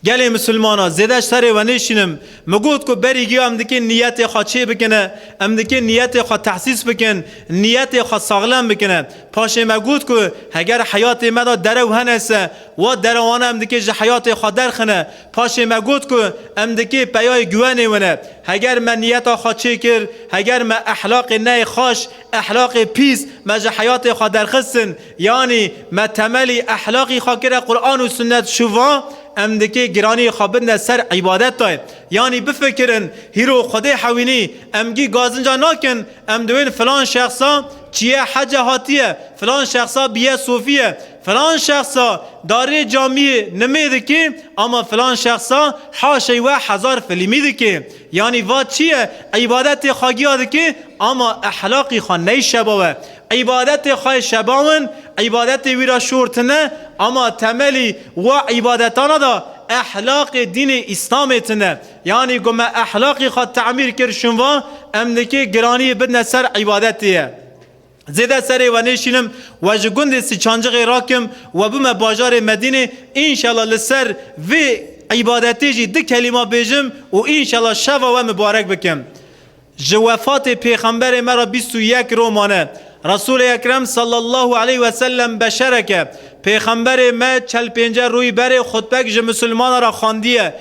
Gelê misilmanan zêde ji serê we nêşînim. Min got ku berî giya em dikin niyetê xwe çê bikin e, em dikin niyetê xwe tehsîs bikin, niyetê xwe saxlem bikin e. Paşê me got ku heger heyatê me de derew hene se, wa derewana em dikê ji heyatê xwe derxin e. Paşê me got ku em dikê peyayê guwenê win e. Heger me niyeta xwe çê kir, heger me ehlaqê neyê xaş, Ehlaqê pîs me ji heyatê xwe derxistin, yanî me temelî ehlaqî xwe kire Quran û Sunnet şûva, em dikê giranîyê xwe bidne ser îbadet de. Yanî bifikirin, hîro Xwedê hewînî, em gî gazinca nakin, em diwên filan şexsa çiye hece hatiye, filan şexsa bîye sofiye, filan şexsa darê camiyê nimê dikê ama filan şexsa haşey we hezar filîmî dikê. Yanî va çi ye, îbadetê xwe giya dike ama ehlaqî xwe neyşebawe. Îbadetê xwe yê şebawin, îbadetê wî re şor tine ama temelî wi îbadetana de ehlaqê dînê îslamê tine. Yanî ku me ehlaqê xwe temîr kir şinva em nikê giraniyê bidine ser îbadetê ye. Zêde serê we nêşînim, we ji gundê Siçancixê rakim we bime bajarê Medînê, înşela li ser vê îbadetê jî du kelîma bêjim û înşela şeva we mibarek bikim. Ji wefatê Pêxemberê me re bîst û yek roj mane. Resûlê Ekrem sallallahu aleyh ve sellem beşerek e. Pêxemberê me çel pênce rûyî berê xutbek ji misilmanan re xandiye.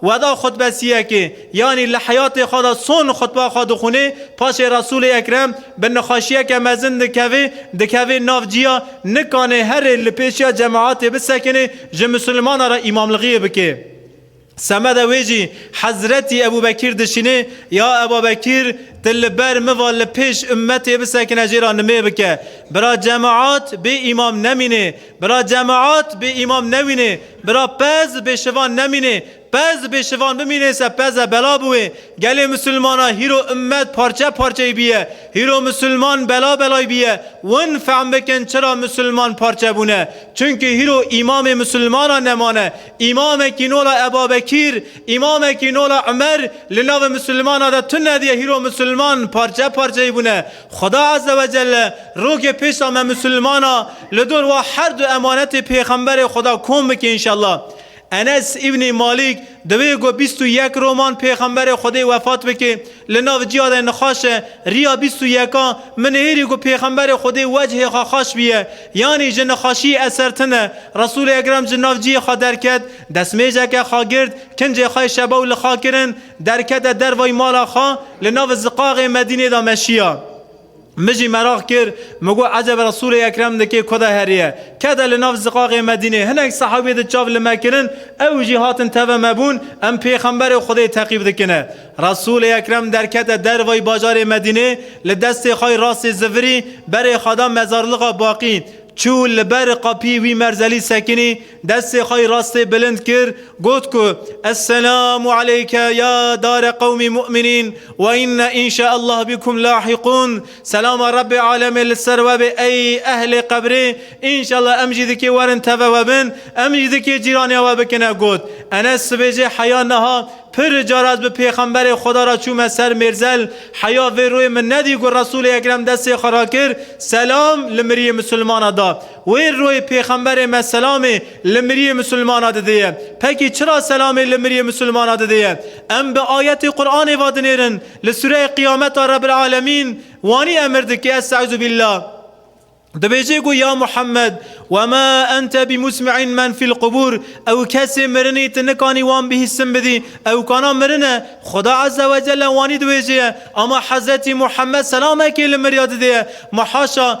Weda xutbesiyekê, yanî li heyatê xwe de son xutba xwe dixwînê, paşê Resûlê Ekrem bi nixweşiyeke mezin dikevê, dikevê nav ciya, nikanê herê li pêşiya cemaetê bisekinê, ji misilmanan re îmamlixiyê bike. Semeda wê jî Hezretî Ebû Bekîr dişînê, Ya Eba Bekîr! Ti li ber min ve li pêş ummetê bisekine jê re nimê bike. Bira cemaet bê îmam nemînê. Bira cemaat bê îmam nemînê, bira pez bê şivan nemînê, pez bê şivan bimînêse pez e bela bi wê. Gelê misilmana hîro ummet parçe parçey bîye, hîro misilman bela belay bîye. Win fehm bikin çira misilman parçe bûne. Çunki hîro îmamê misilmanan nemane. Îmamekî nola Ebabekîr, îmamekî nola Umer li navê misilmana de tune diye hîro misilman parçe parçey bûne. Xweda Azze ve Celle rokê pêşa me Musulmana li dor wa her du emanetê Pêxemberê Xweda kom bike înşallah. Enes Îbnî Malîk di wê ku bîst û yek roman Pêxemberê Xwedê wefat bike li nav ciya de nixaşe riya bîst û yeka min nihêrî ku Pêxemberê Xwedê wecihê xwe xaş biye yanî ji nixaşiyê eser tine Resûlê Ekrem ji nav cihê xwe derket destmêjeke xwe girt kincê xwe şebaw li xwe kirin Derkete dervayî mala xwe, li nav ziqaxê Medînê de meşiya. Min jî meraq kir, min got ecebe Resûlê Ekrem di kê ku de heriye. Ke de li nav ziqaxê Medînê hinek sehawî di çav li me kirin, ew jî hatin teve me bûn, em Pêxemberê Xwedê teqîb dikine. Resûlê Ekrem derkete dervayî bajarê Medînê, li destê xwe yê rastê zivirî berê xwe da mezarlixa Baqî, çû li ber qapî wî merzelî sekinî, Destê xwe yê rastê bilind kir, got ku, Esselamu aleyke ya dare qewmî mu'minîn we inna inşa'Allah bikum lahîqûn, Selama Rebbê alemê li ser we bê ey ehlê qebrê, inşa'Allah em jî dikê werin teve we bin, em jî dikê cîranê we bikine got. Enes dibêje heya niha pir caraz bi Pêxemberê Xweda re çûme ser mêrzel, heya vê royê min nedî ku Resûlê Ekrem destê xwe rakir, selam li miriyê misilmana da. Wê royê Pêxemberê me selamê li miriyê misilmana didiye. Pekî çira selamê li miriyê misilmana didiye? Em bi ayetê Quranê va dinêrin, li sureyê Qiyameta Rebbil Alemîn wanî emir dike Estezubîllah. Dibêje ku ya Muhammed wema ente bimusmi'in men fil qubur ew kesê mirinî tu nikanî wan bihîstin bidî ew kana mirin e. Xuda Ezze Wecelle wanî dibêje ama Hezretî Muhammed selamekê li miriya didiye. Ma haşa!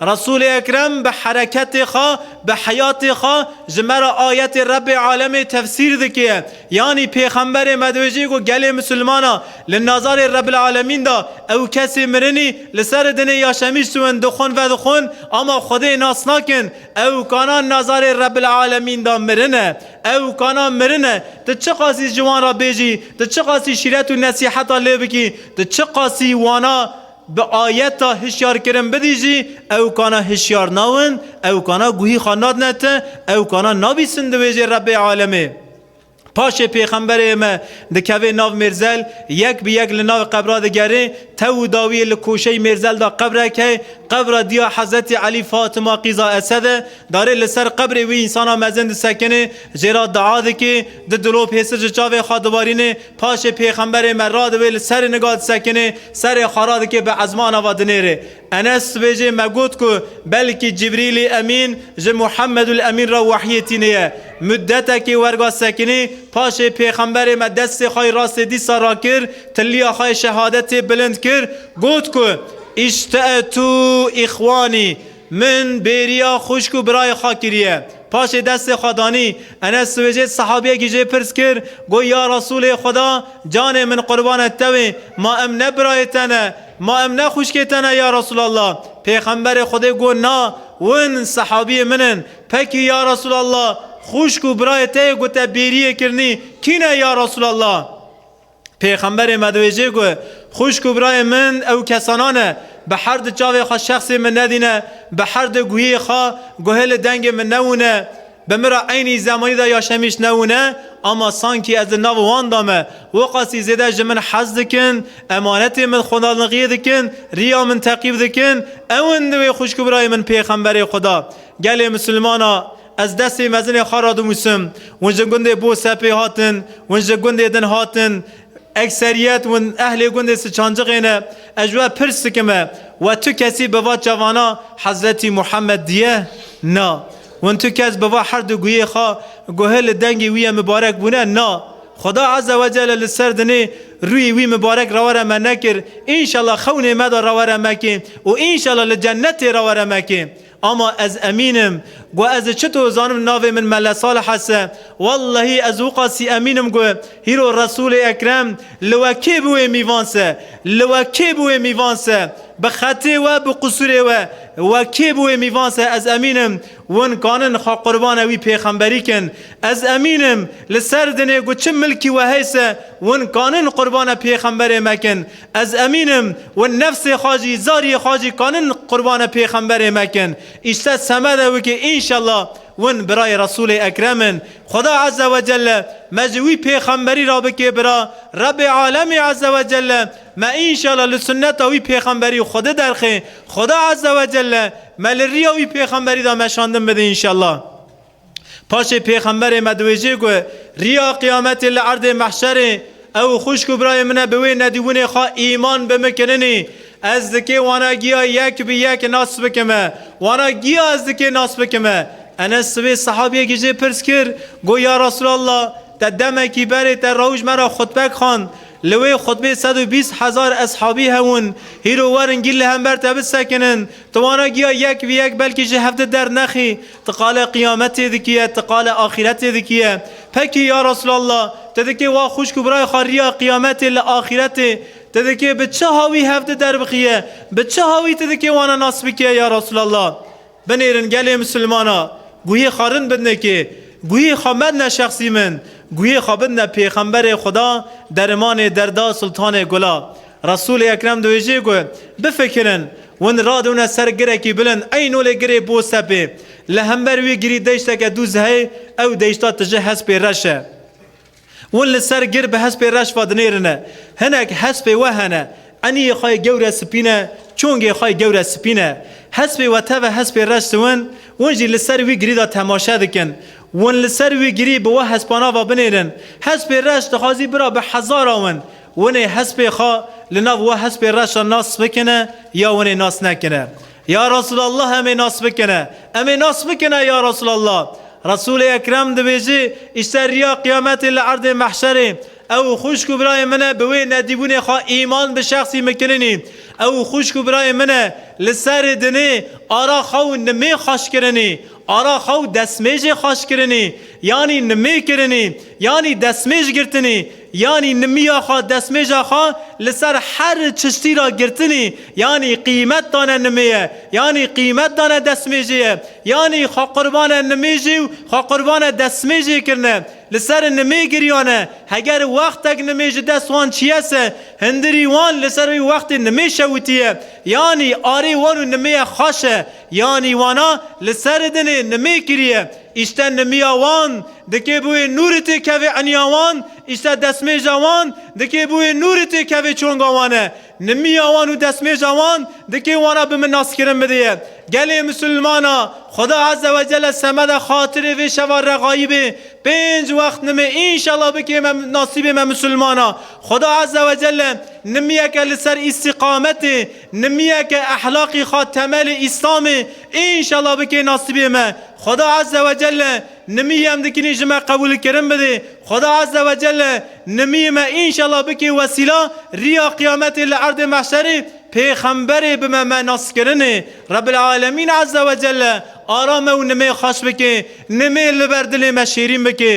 Resûlê Ekrem bi hereketê xwe, bi heyatê xwe ji me re ayetê Rebê Alemê tefsîr dike. Yanî pêxemberê me dibêje ku gelê misilmana li nazarê Rebil Alemîn de ew kesê mirinî li ser dinê ya şemîştûin dixwin vedixwin ama Xwedê nas nakin ew kana nazarê Rebil Alemîn de mirin e ew kana mirin e tu çiqasî ji wan re bêjî tu çiqasî şîret û nesîheta lê bikî tu çiqasî wana Bi ayeta hişyar kirin bidî jî ew kana hişyar nawin, ew kana guhî xwe nadine te, ew kana nabîsin di wêjê Rebê alemê. Paşê pêxemberê me dikevê nav mêrzel, yek bi yek li navê qebra digerê, tew û dawiyê li koşeyî mêrzel de qebrek heye, qebra diya Hezretî Elî Fatima qîza Esed e, darê li ser qebrê wî însana mezin disekinê, jê re dua dikê, du dilop hêsir ji çavê xwe dibarînê, Paşê Pêxemberê me radivê li serê niga disekinê, serê xwe radike bi ezman ava dinêrê. Enes dibêje me got ku belkî Cibrîlî Emîn ji Muhemedul Emîn re wehyê tîniye. Mudetekê werga sekinî, paşê Pêxemberê me destê xwe yê rastê dîsa rakir, tiliya xwe yê şehadetê bilind kir, got ku, Îşte'etû îxwanî! Min bêriya xwişk û birayê xwe kiriye. Paşê destê xwe danî. Enes siwêjê sehabiyekî jê pirs kir, got, Ya Resûlê Xweda, canê min qurbanê tewê, ma em ne birayê te ne, ma em ne xwişkê te ne ya Resûlallah. Pêxemberê Xwedê got, Na, win sehabiyê min in. Pekî ya Resûlallah, xwişk û birayê te yê ku te bêriyê kirinî, kî ne ya Resûlallah? Pêxemberê me diwêjê ku, Xwişk û birayên min ew kesana ne, bi her di çavê xwe şexsê min nedîne, bi her di guhiyê xwe guhê li dengê min newûne, bi min re eynî zemanî de ya şemîş newûne, ama sankî ez li nav wan de me, weqasî zêde ji min hez dikin, emanetê min xwendanixiyê dikin, riya min teqîb dikin, ew in divê xwişk û birayên min pêxemberê xwe da gelê misilmana Ez destê mezinê xwe radimûsim. Hûn ji gundê Bosepê hatin. Hûn ji gundê din hatin. Ekseriyet hûn ehlê gundê Siçanciqê ne. Ez ji we pirs dikim e, we tu kesî bi va çavana Hezretî Muhammed diye? Na. Hûn tu kes bi va herdu guyê xwe guhi li dengê wî ye mibarek bûne? Na. Xuda Eze Wecele li ser dinê rûyê wî mibarek rewere me nekir. Înşela xewnê me de rewere mekê û înşela li cennetê rewere mekê. Ama ez emîn im. Got ez ê çi to zanim navê min Mele Salih es e. Wellehî ez û qasî emîn im got hîro Resûlê Ekrem li we kê bi wê mîvan se? Li we kê bi wê mîvan se? Bi xetê we bi qusûrê we we kê bi wê mîvan se ez emîn im win kanin xwe qurbane wî pêxemberî kin. Ez emîn im li ser dinê got çi milkî we heyse win kanin qurbane pêxemberê me kin. Ez emîn im wen nefsê xwe jî, zariyê xwe jî kanin qurbane pêxemberê me kin. Îşte semede wikî înşellah wen birayê Resûlê Ekrem in. Xweda Eze we Celle me ji wî pêxemberî re bikê bira. Rebê Alemî Eze we Celle me înşellah li sunneta wî pêxemberî xwedi derxê. Xweda Eze we Celle me li riya wî pêxemberî de meşandin bide înşellah. Paşê pêxemberê me diwêjê ku riya qiyametê li erdê mehşerê ew û xwişk û birayê min e bi wê nedîbûnê xwe îman bi min kirinî ez dikê wana giya yek bi yek nas bikime wana giya ez dikê nas bikime Enes sibê sehabiyekî jê pirs kir got ya Resûlallah te demekî berê te rewş me re xutbek xwend li wê xutbê sed û bîst hezar eshabî hewin hîro werin gîl li hember te bisekinin tu wana giya yek bi yek belkî ji hev di dernexî Ti qale qiyametê dikiye, ti qale axîretê dikiye. Pekî ya Resûlallah, ti dikê wa xwişk û birayê xwe riya qiyametê li axîretê, ti dikê bi çi hawî hev di derbixiye, bi çi hawî ti dikê wana nas bikiye ya Resûlallah? Binêrin gelê Mislimana, guhê xwe rind bidne kê, guhê xwe medne şexsî min, guhê xwe bidne pêxemberê Xweda, derimanê derda, sultanê gula. Resûlê Ekrem dibêje ku bifikirin, win radewne ser girekî bilind, ey nolê girê bo sepê, li hember wî girî deşteke dûz heye, ew deşta tije hespê reş e. Win li ser gir bi hespê reş ve dinêrine. Hinek hespê we hene, eniyê xwe yê gewre spîn e, çongê xwe yê gewre spîn e. Hespê we teve hespê reş siwin, win jî li ser wî girî de temaşe dikin. Win li ser wî girî bi we hespanan ve binêrin. Hespê reş dixwazî bira bi hezara win. Winê hespê xwe li nav we hespê reş de nas bikine ya winê nas nekine. Ya Resûlallah em ê nas bikine, em ê nas bikine ya Resûlallah. Resûlê Ekrem dibêjî îşte riya qiyametê li erdê mehşerê. Ew û xwişk û birayên min e bi wê nedîbûnê xwe îman bi şexsî mikirinî. Ew û xwişk û birayên min e li serê dinê ara xwe û nimê xweş kirinî. Ara xwe û destmêjê xweş kirinî. Yanî nimê kirinî. Yanî destmêj girtinî. Yanî nimiya xwe, destmêja xwe li ser her çiştî ra girtinî, yanî qîmet dane nimiyê, yanî qîmet dane destmêjiyê, yanî xwequrbane nimêjî û xwequrbane destmêjiyê kirine, li ser nimê giriyane, heger wextek nimê ji dest wan çiyese, hindirî wan li ser wê wextê nimê şewitiye, yanî arê wan û nimiyê xweş e. Yanî wana li serê dinê nimê kiriye, îşte nimiya wan dikê bûyê nûrê tê kevê eniya wan, îşte destmêja wan dikê bûyê nûrê tê kevê çonga wan e. Nimiya wan û destmêja wan dikê wana bi min naskirin bidêye. Gelê misilmana, Xuda Ezze ve Celle semede xatirê vê şeva regaîbê pênc wext nimê înşela bikê me nasîbê me misilmana. Xuda Ezze ve Celle nimiyeke li ser îstîqametê, Nimiyeke ehlaqî xwe temelê îslamê înşela bikê nasîbê me. Xweda Eze we Celle nimiyî em dikinî ji me qebûl kirin bidê. Xweda Eze we Celle nimiyî me înşela bikê wesîla rîya qiyametê li erdê mehşerê pêxemberê bime me naskirinê. Rebbil Alemîn Eze we Celle ara me û nimê xweş bikê, nimê li ber dilê me şêrîn bikê.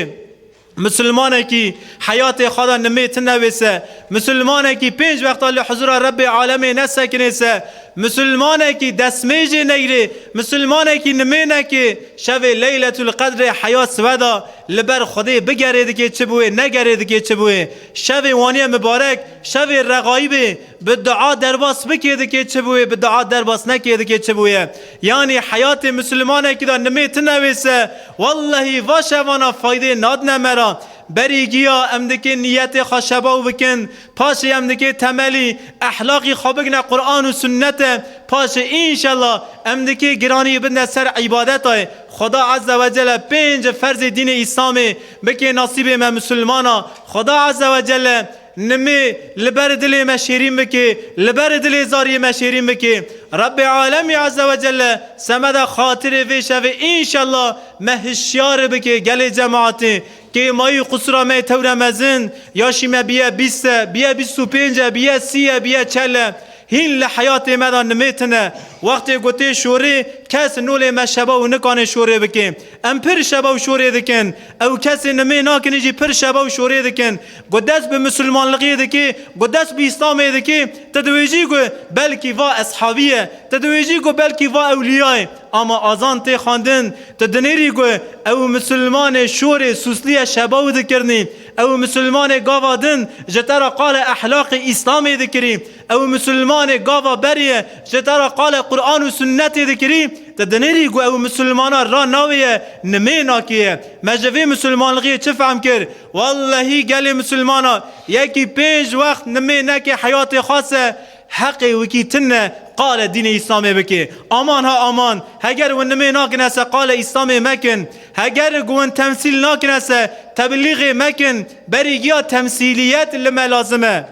Misilmanekî heyatê xwe de nimê ti nevêse, misilmanekî pênc wexta li huzûra Rebbê alemê nesekinêse, misilmanekî destmêjê neyrê, misilmanekî nimê nekê, şevê leyletûl qedrê heya siwe de li ber Xwedê bigerê dikê çi bi wê, negerê dikê çi bi wê. Şevê wanî ye mibarek, şevê rexayî bê. Bi dua derbas bikê dikê çi bûyê, bi dua derbas nekê dikê çi bûye. Yanî heyatê Mislimanekî de nimê tune wêse, wellehî va şevana faydê nadine me re. Berî giya em dikê nîyetê xwe şebaw bikin, paşê em dikê temelî ehlaqî xwe bigine Quran û Sunnete, paşê înşella em dikê giranî bidine ser îbadetayê Xweda Eze Wecele pênc ferzê dînê Îslamê bikê nasîbê me Mislimana Xweda Eze Wecele Nimê li ber dilê me şêrîn bikê, li ber dilê zariyê me şêrîn bikê. Rebbi Alemî Eze ve Celle semeda xatirê vê şevê înşella me hişyari bikê gelê cemaatê kê mayî qusura me yê tewre mezin ya şî me biye bîst e, biye bîst û pênc e, biye sî e, biye çel e. Hîn li heyatê me de nimê tune. Wextê gotê şorê kes nolê me şeba û nikanê şorê bikê. Em pir şeba û şorê dikin. Ew kesê nimê nakinê jî pir şeba û şorê dikin. Ku dest bi misilmanligê dikê, ku dest bi îslamê dikê, tu diwêjî ku belkî va eshabî ye, tu diwêjî ku belkî va ewlîya ye. Ama azan tê xwendin, tu dinêrî ku ew misilmanê şorê sûslîye şeba wî dikirinî, ew misilmanê gava din ji te re qala ehlaqê îslamê dikirî, Ew Musulmanê gava berê ye, ji dera qala Quran û Sunnetê dikirî, te dinêrî ku ew Musulmana ra navê ye, nimê nakê ye. Me ji vê Musulmanlixê çi fehm kir? Wellehî gelê Musulmana yekî pênc wext nimê neke heyatê xwe se heqê wikî tune qala dînê Îslamê bike. Aman ha aman, heger win nimê nakine se qala Îslamê mekin. Heger ku win temsîl nakine se tebilîxê mekin. Berî giya temsîliyet li me lazim e.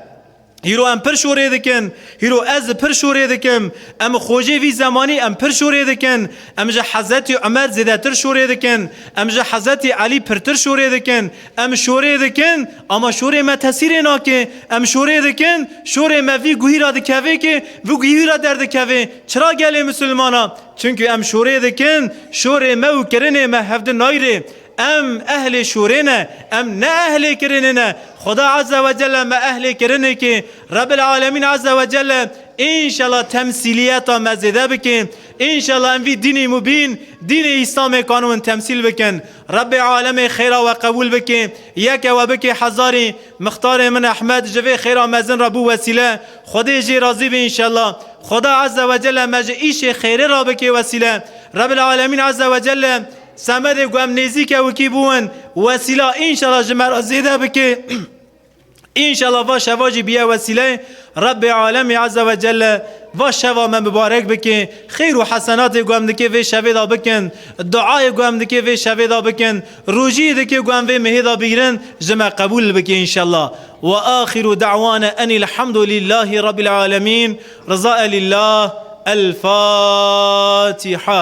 Hîro em pir şorê dikin, hîro ez pir şorê dikim, em xojê vî zemanî em pir şorê dikin, em ji Hezetî Umer zêdetir şorê dikin, em ji Hezetî Elî pirtir şorê dikin, em şorê dikin, ama şorê me tesîrê nake, em şorê dikin, şorê me vî guhî ra dikeve ke vi guhî ra derdikeve, çira gelê misilman a, çunku em şorê dikin, şorê me û kirinê me hevdi nayre, Em ehlê şûrê ne, em ne ehlê kirinê ne. Xuda Azze ve Celle me ehlê kirinê kê. Rebbil Alemîn Azze ve Celle înşela temsîliyeta me zêde bike. Înşela em vî dînê mubîn, dînê Îslamê kanûn temsîl bikin. Rebbê Alemê xêra we qebûl bike, yeke we bike hezarê. Mixtarê min Ehmed ji vê xêra mezin re bû wesîle. Xwedê jê razî be înşela. Xuda Azze ve Celle me ji îşê xêrê re bike wesîle. Rebbil Alemîn Azze ve Celle. Semedê ku em nêzîk ewikî bûin wesîla înşela ji me re zêde bike. Înşela va şeva jî biye wesîleyê Rebbê Alemî Eze ve Celle va şeva me mibarek bike. Xêr û hesenatê ku em dikê vê şevê de bikin, duayê ku em dikê vê şevê de bikin, rojiyê dikê ku em vê mehê de bigrin ji me qebûl bike înşela. Wa axiru dewana enil hamdulîllahî Rabbîl Alemîn. Rizae lîllah. El Fatiha.